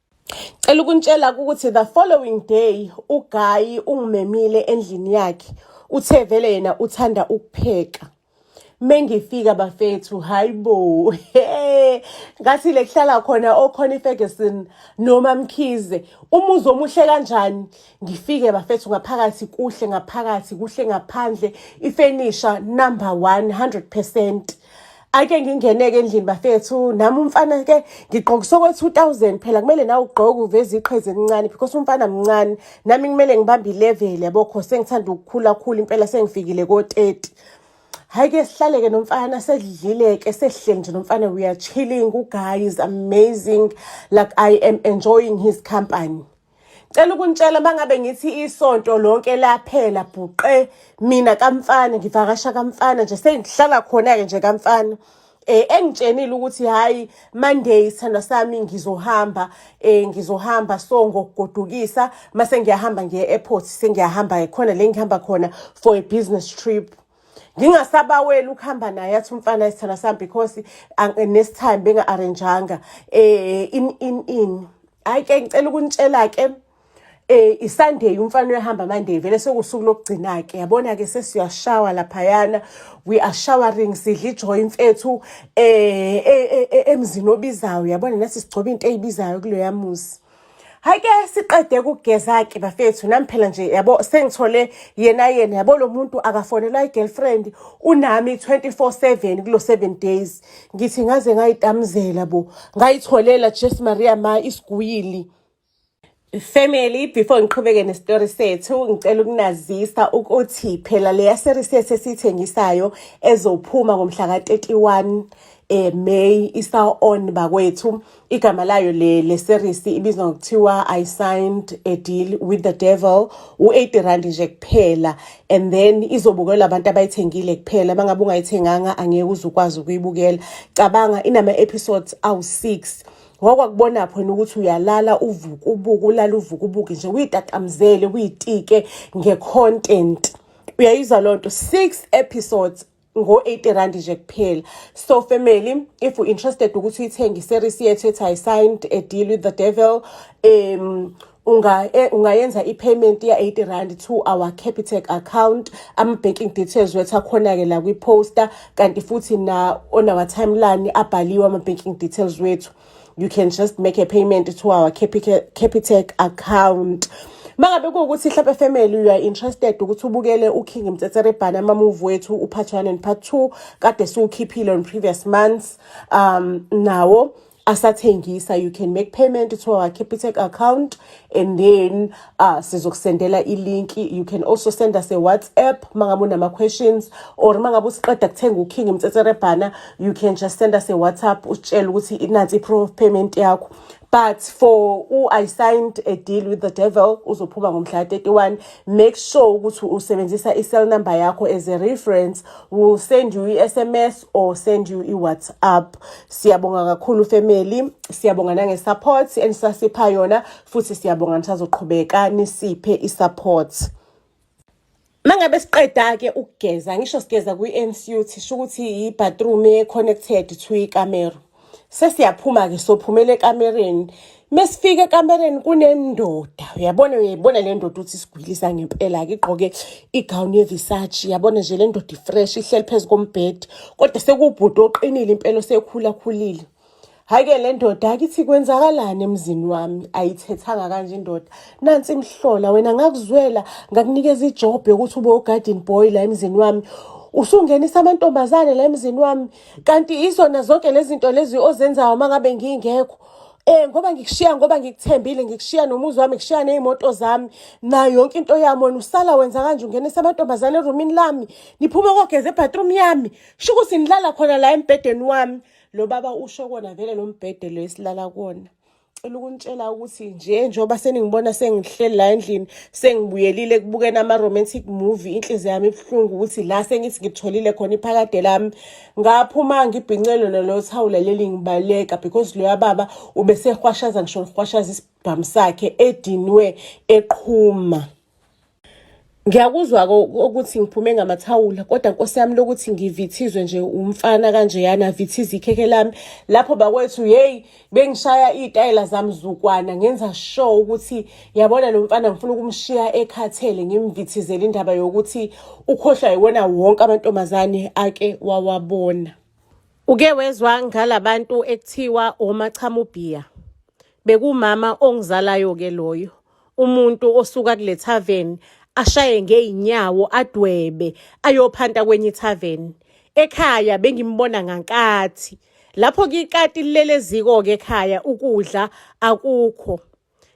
Cela ukuntshela ukuthi the following day ugayi ungimemile endlini yakhe uthe vele yena uthanda ukupheka mengifika bafethu hayibo ngathi le kuhlala khona okhona iFerguson noma Mkhize umuzi omuhle kanjani ngifike bafethu ngaphakathi kuhle ngaphakathi kuhle ngaphandle ifenisha number 100% ake ngingeneke endlini bafethu nami umfana ke ngigqokisa okwethi u-thousand phela kumele nawe ugqoke uveze iqhezi elincane because umfana mncane nami kumele ngibambe ilevel yabo kho sengithanda ukukhula khula impela sengifikile ko-thirty hhayi ke sihlaleke nomfana sedlile-ke sehleli nje nomfana we are chilling uguy is amazing like i am enjoying his company Cela ukunitshela mangabe ngithi isonto lonke laphela bhuqe mina kamfana ngivakasha kamfana nje sengihlala khona ke nje kamfana eh engitshenile ukuthi hayi Monday sithanda sami ngizohamba eh ngizohamba so ngokugodukisa mase ngiyahamba ngiye airport sengiyahamba khona le ngihamba khona for a business trip ngingasabaweli ukuhamba naye athi umfana isithana sami because next time benga-arranjanga um in in in hhayi ke ngicela ukunitshela-ke um eh, isunday umfana uyahamba monday vele sekuwusuku lokugcina-ke yabona-ke sesiyashawa laphayana we are showering sidla ijoyi mfethu um emzini obizayo yabona nathi sigcoba into eyibizayo kuloya muzi hayi ke siqede ukugeza-ke bafethu nami phela nje yabo sengithole yena yena yabo lo muntu akafonelwa i-girlfriend unami 24/7 kulo 7 days ngithi ngaze ngayitamuzela bo ngayitholela jesu maria ma isiguyili Family before ngiqhubeke nestory sethu ngicela ukunazisa ukuthi phela leya series sethu esithengisayo ezophuma ngomhla ka 31 eh May isa on bakwethu igama layo le le series ibizwa ngokuthiwa i signed a deal with the devil u-80 rand nje kuphela and then izobukelwa abantu abayithengile kuphela bangabe ungayithenganga angeke uze ukwazi ukuyibukela cabanga inama-episodes awu-6 wakwakubona phona ukuthi uyalala uvuke ubuke ulala uvuke ubuke nje uyitatamzele uyitike nge-content uyayizwa loo nto six episodes ngo-80 rand nje kuphela so family if you interested ukuthi uyithenge iseries yethu ethi i signed a deal with the devil um unga e, ungayenza i-payment ya-80 rand to our capitec account ama-banking details wethu akhona-ke la kwi-poster kanti futhi na on our timeline abhaliwe ama-banking details wethu you can just make a payment to our capitec account mangabe kuwukuthi hlampe family you are interested ukuthi ubukele uking mtsetserebhana amamuvi wethu upart one and part two kade siwukhiphile on previous months um nawo asathengisa you can make payment to our capitec account and then ah sizokusendela ilinki you can also send us a whatsapp mangabe unama-questions or mangabe usiqeda kuthenga uking mtsetserebhana you can just send us a whatsapp usitshele ukuthi inansi i-proof of payment yakho but for u-i signed a deal with the devil uzophuma ngomhla 31 make sure ukuthi usebenzisa i-cell number yakho as a reference will send you i-sms or send you i-whatsapp siyabonga kakhulu family siyabonga nange-support enisasipha yona futhi siyabonga nisazoqhubeka nisiphe isupport mangabe siqeda ke ukugeza ngisho sigeza kwi-NCUT sho ukuthi yi-bathroom e-connected to ikamero sesiyaphuma ke sophumela ekamereni mesifika ekamereni kunendoda uyabona uyayibona le ndoda ukuthi isigwilisa ngempela-ke igqoke igown yevisachi yabona nje le ndoda ifresh ihleli phezu kombhedi kodwa sekubhuti oqinile impela osekhulakhulile Hake le ndoda akithi kwenzakalani emzini wami ayithethanga kanje indoda nansi imhlola wena ngakuzwela ngakunikeza ijob yokuthi ube ugarden boy la emzini wami usungenisa amantombazane la emzini wami kanti izona zonke lezi zinto lezi ozenzayo uma ngabe ngingekho Eh ngoba ngikushiya ngoba ngikuthembile ngikushiya nomuzi wami ngikushiya nezimoto zami nayo yonke into yami wena usala wenza kanje ungenisa amantombazane eroomini lami niphuma kogeza ebathroom yami shukuthi nilala khona la embhedeni wami lo baba usho kona vele lo mbhede lo esilala kuwona cela ukuntshela ukuthi nje njengoba seningibona sengihleli la endlini sengibuyelile kubukena ama-romantic movie inhliziyo yami ibuhlungu ukuthi la sengithi ngitholile khona iphakade lami ngaphuma ngibhincelwe lolo thawula leli ngibaleka because loya baba ubesehwashaza ngisho ngihwashaza isibhamu sakhe edinwe eqhuma ngiyakuzwa ukuthi ngiphume ngamathawula kodwa nkosi yami lokuthi ngivithizwe nje umfana kanjeyana avithize ikhekhe lami lapho bakwethu yeyi bengishaya iy'tayela zami zukwana ngenza sure ukuthi yabona lo mfana ngifuna ukumshiya ekhathele ngimvithizele indaba yokuthi ukhohlwa yiwona wonke amantombazane ake wawabona uke wezwa ngalabantu ekuthiwa omachamubhiya bekumama ongizalayo-ke loyo umuntu osuka kule tavern ashaye ngeyinyawo adwebe ayophanta kwenye itavern ekhaya bengimbona ngankathi lapho kikati lilele ziko ke ekhaya ukudla akukho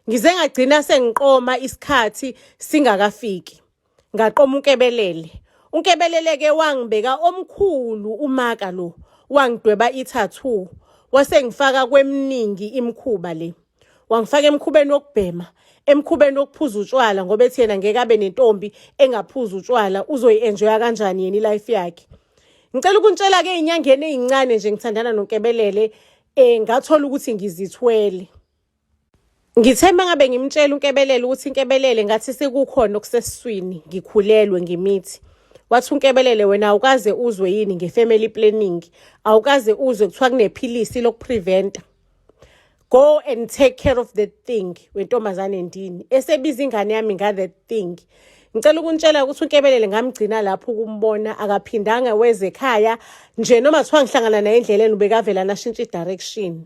ngize ngagcina sengiqoma isikhathi singakafiki Ngaqoma unkebelele. Unkebelele ke wangibeka omkhulu umaka lo. Wangidweba i-tattoo. Wasengifaka kweminingi imkhuba le. Wangifaka emkhubeni wokubhema, emkhubeni wokuphuza utshwala ngoba ethi yena ngeke abe nentombi engaphuza utshwala uzoyi-enjoya kanjani yena ilife yakhe. Ngicela ukuntshela-ke ey'nyangeni ey'ncane nje ngithandana nonkebelele um ngathola ukuthi ngizithwele. Ngithe uma ngabe ngimtshela uNkebelele ukuthi inkebelele ngathi sekukhona okusesiswini ngikhulelwe ngimithi wathi unkebelele wena awukaze uzwe yini nge-family planning awukaze uzwe kuthiwa kunephilisi lokupreventa go and take care of that thing wentombazane ndini esebiza ingane yami nga-that thing ngicela ukuntshela ukuthi unkebelele ngamgcina lapho ukumbona akaphindanga weze ekhaya nje noma kuthiwa ngihlangana naye endleleni ubekavela nashintsha i-direction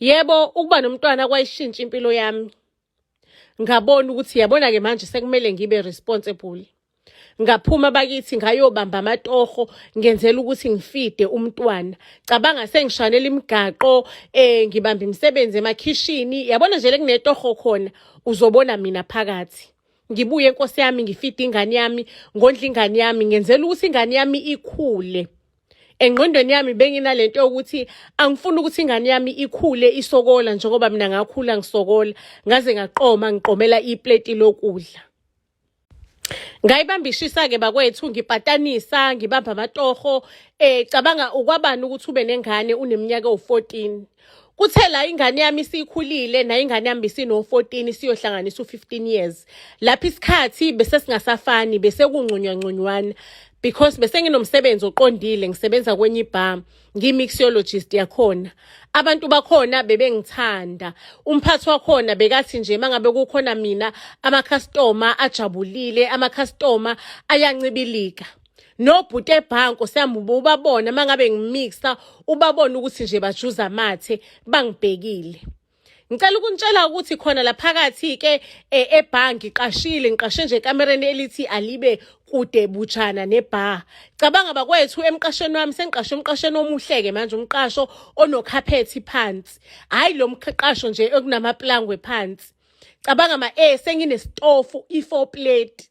Yebo ukuba nomntwana kwayishintsha impilo yami. Ngabona ukuthi yabona ke manje sekumele ngibe responsible. Ngaphuma bakithi ngayobamba amatoho ngenzela ukuthi ngifide umntwana. Cabanga sengishanela imigaqo eh ngibamba imisebenzi emakhishini yabona nje lekunetoho khona uzobona mina phakathi. Ngibuye inkosi yami ngifide ingane yami ngondla ingane yami ngenzela ukuthi ingane yami ikhule. engqondweni yami benginalento yokuthi angifuni ukuthi ingane yami ikhule isokola njengoba mina ngakhula ngisokola ngaze ngaqoma ngiqomela iplate lokudla ngayibamba ishisa-ke bakwethu ngipatanisa ngibamba amatoho um cabanga ukwabani ukuthi ube nengane uneminyaka ewu-fourteen Kuthe la ingane yami isikhulile nayo ingane yami isino-14 siyohlanganisa u-15 years. Lapha isikhathi bese singasafani bese kungcunywancunywani because bese nginomsebenzi oqondile ngisebenza kwenye ibha ngi-mixologist yakhona abantu bakhona bebengithanda umphathi wakhona bekathi nje mangabe kukhona mina amakhastoma ajabulile amakhastoma ayancibilika nobhuti ebhanko siyambuba ubabona mangabe ngimixa ubabona ukuthi nje bajuza amathe bangibhekile ngicela ukunitshela ukuthi khona la phakathi ke eh, ebhangi qashile ngiqashe nje ekamereni elithi alibe kude butshana nebar cabanga bakwethu emqashweni wami sengiqashe umqasheni omuhleke manje umqasho onokhaphethi phansi hayi lo mqasho nje okunamaplangwe phansi cabanga ma eh senginesitofu i4 plate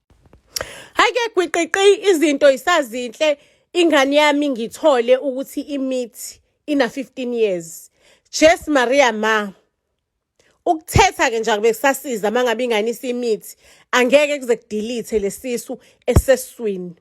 Hayi ke gwiqiqi izinto isazinhle ingane yami ngithole ukuthi imithi ina 15 years. Jes Maria ma. Ukuthetha ke nje akube kusasiza mangabe ingane isimithi angeke kuze kudelete lesisu eseswini.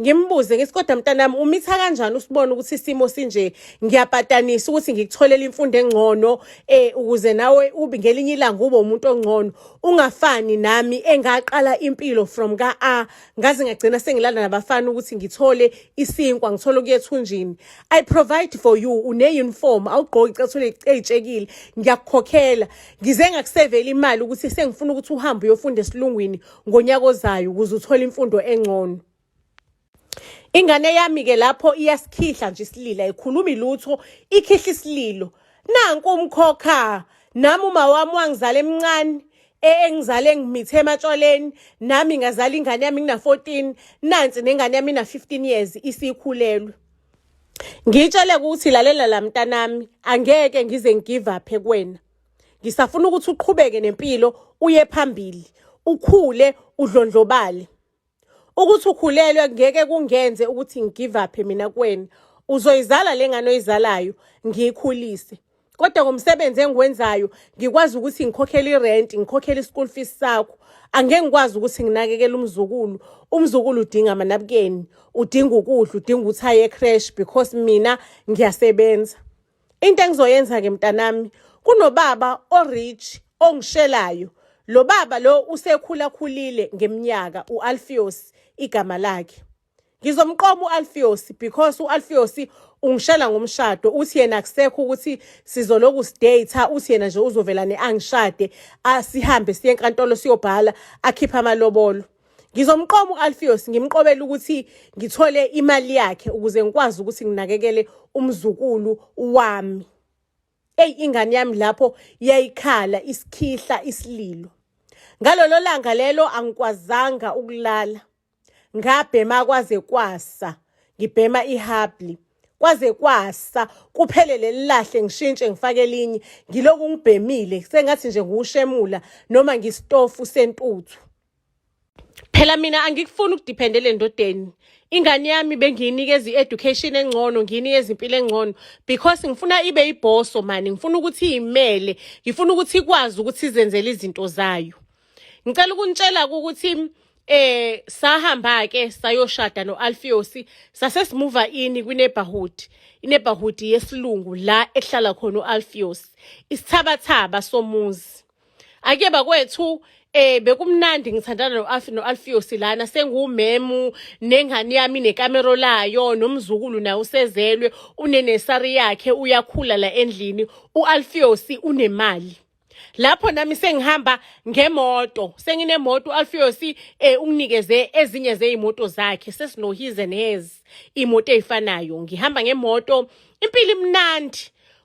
ngimbuze ngithi kodwa mntanami umitha kanjani usibona ukuthi isimo sinje ngiyapatanisa ukuthi ngikutholele imfundo engcono eh ukuze nawe ube ngelinye ilanga ube umuntu ongcono ungafani nami engaqala impilo from ka A ngaze ngagcina sengilala nabafana ukuthi ngithole isinkwa ngithole kuyethunjini i provide for you une uniform awugqoki cethule ecekile ngiyakukhokhela ngize ngakusevela imali ukuthi sengifuna ukuthi uhambe uyofunda esilungwini ngonyaka ozayo ukuze uthole imfundo engcono ingane yami ke lapho iyasikhihla nje isilila ikhulumi lutho ikhihla isililo nanku umkhokha nami uma wami wangizala emncane e, engizale ngimithe ematshwaleni nami ngazala ingane yami ngina 14 nansi nengane yami ina 15 years isikhulelwe ngitshele ukuthi lalela la mntanami angeke ngize ngigive up kuwena ngisafuna ukuthi uqhubeke nempilo uye phambili ukhule udlondlobale ukuthi ukhulelwe ngeke kungenze ukuthi ngigive up mina kuwena uzoyizala le ngane oyizalayo ngiyikhulise kodwa ngomsebenzi engiwenzayo ngikwazi ukuthi ngikhokhele irent ngikhokhele ischool fees sakho angeke ngikwazi ukuthi nginakekele umzukulu umzukulu udinga amanabukeni udinga ukudla udinga ukuthi aye ecrash because mina ngiyasebenza into engizoyenza ke mntanami kunobaba orich ongishelayo lo baba lo usekhula khulile ngeminyaka uAlfios igama lakhe ngizomqoma uAlfios because uAlfios ungishela ngomshado uthi yena akusekho ukuthi sizoloku sidate uthi yena nje uzovela neangishade asihambe siye enkantolo siyobhala akhipha amalobolo Ngizomqoma u-Alpheus ngimqobele ukuthi ngithole imali yakhe ukuze ngikwazi ukuthi nginakekele umzukulu wami. Ey ingane yami lapho yayikhala isikhihla isililo. Ngalolo langa lelo angikwazanga ukulala. Ngabhema kwaze kwasa. Ngibhema ihabli. Kwaze kwasa kuphele lelilahle ngishintshe ngifake elinye ngiloku ngibhemile sengathi nje ngushemula noma ngistofu sentuthu. phela mina angikufuni ukudiphendela endodeni ingane yami bengiyinikeza i-education engcono ngiyinikeza impilo engcono because ngifuna ibe ibhoso mani ngifuna ukuthi iyimele ngifuna ukuthi ikwazi ukuthi izenzele izinto zayo ngicela ukunitshela ukuthi eh sahamba ke sayoshada noAlfiosi sase simuva ini kwineighborhood ineighborhood yesilungu la ehlala khona uAlfios isithabathaba somuzi ake bakwethu eh bekumnandi ngithandana noAfi noAlfio silana sengumemu nengane yami nekamero layo nomzukulu naye usezelwe unenesari yakhe uyakhula la endlini uAlfio si unemali lapho nami sengihamba ngemoto senginemoto uAlfio si eh unginikeze ezinye zeimoto zakhe sesinohize nez imoto ezifanayo ngihamba ngemoto impilo imnandi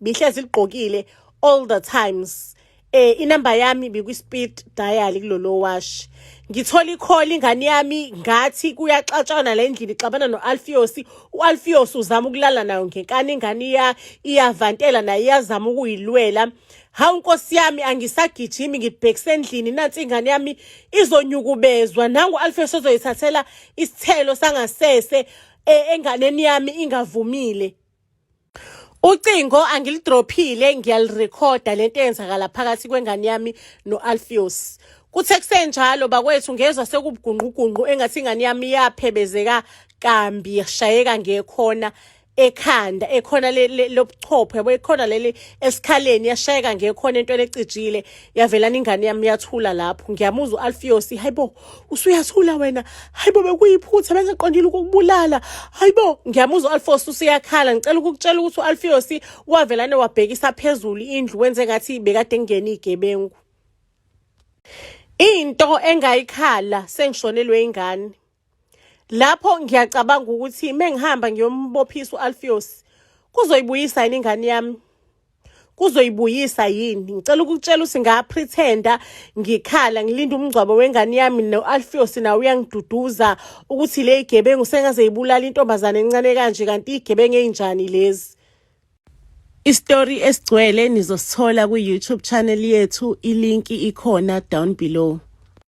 bihlezi ligqokile all the times eh inamba yami bikwi speed dial kulolo wash ngithola icall ingane yami ngathi kuyaxatshana la endlini ixabana noAlfios uAlfios uzama ukulala nayo ngenkani ingane iya iyavantela naye iyazama ukuyilwela hawu nkosi yami angisagijimi ngibhekise endlini nansi ingane yami izonyukubezwa nangu Alfios ozoyithathela isithelo sangasese eh, enganeni yami ingavumile Ucingo angilidrophile ngiyalirekhoda lento eyenzakala phakathi kwengane yami no-Alpheus. Kuthe kusenjalo bakwethu ngezwa sekubugungqugunqu engathi ingane yami yaphebezeka kambi yashayeka ngekhona ekhanda ekhona lobuchopho yabo ekhona leli esikhaleni yashayeka ngekhona into lecijile yavelana ingane yami yathula lapho ngiyamuzwa u-Alpheus hayibo usuyasula wena hayi bo bekuyiphutha bengiqondile ukukubulala hayi bo ngiyamuzwa u-alfos usuyakhala ngicela ukukutshela ukuthi u-alfios wavelane wabhekisa phezulu indlu wenze ngathi bekade ngingene iy'gebengu into engayikhala sengishonelwe ingane lapho ngiyacabanga ukuthi mengihamba ngiyombophisa u-alfios kuzoyibuyisa yini ingane yami kuzoyibuyisa yini ngicela ukukutshela ukuthi ngapretenda ngikhala ngilinda umngcwabo wengane yami no-alfiosi nawo uyangiduduza ukuthi le igebengu sengaze yibulala intombazane encane kanje kanti igebengu eyinjani lezi isitori esigcwele nizosithola kwi-youtube channel yethu ilinki ikhona down below